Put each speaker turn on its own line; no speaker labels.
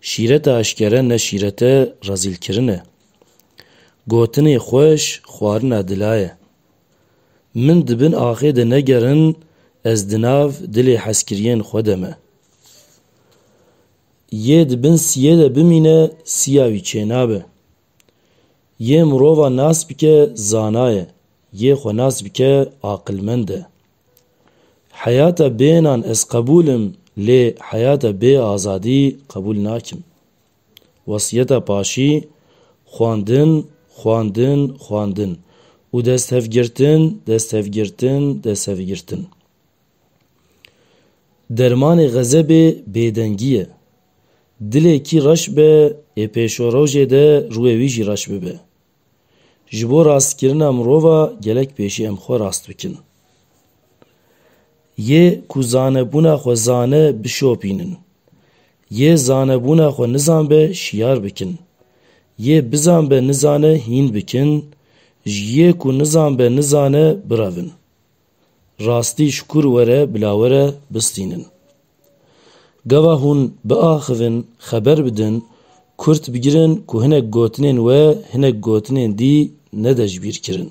Şîrete eşkere ne şîrete rezîlkirin e. Gotinê xweş xwarina dila ye. Min di bin axê de negerin ez di nav dilê hezkiriyên xwe de me. Yê di bin siyê de bimîne siya wî çênabe. Yê mirova nas bike zana ye, yê xwe nas bike aqilmend e. Heyata bênan ez qebûl im lê heyata bê azadî qebûl nakim. Wesiyeta Paşî, Xwendin, xwendin, xwendin û desthevgirtin, desthevgirtin, desthevgirtin. Dermanê xezebê bêdengî ye. Dilê kî reş be ê pêşorojê de rûyê wî jî reş bibe. Ji bo rastkirina mirova gelek pêşî em xwe rast bikin. Yê ku zanebûna xwe zane bişopînin. Yê zanebûna xwe nizanbe şiyar bikin. Yê bizanbe nizane hîn bikin, ji yê ku nizanbe nizane birevin. Rastî şikur were bila were bistînin. Gava hûn biaxivin xeber bidin, kurt bigirin ku hinek gotinên we hinek gotinên dî nede ji bîr kirin.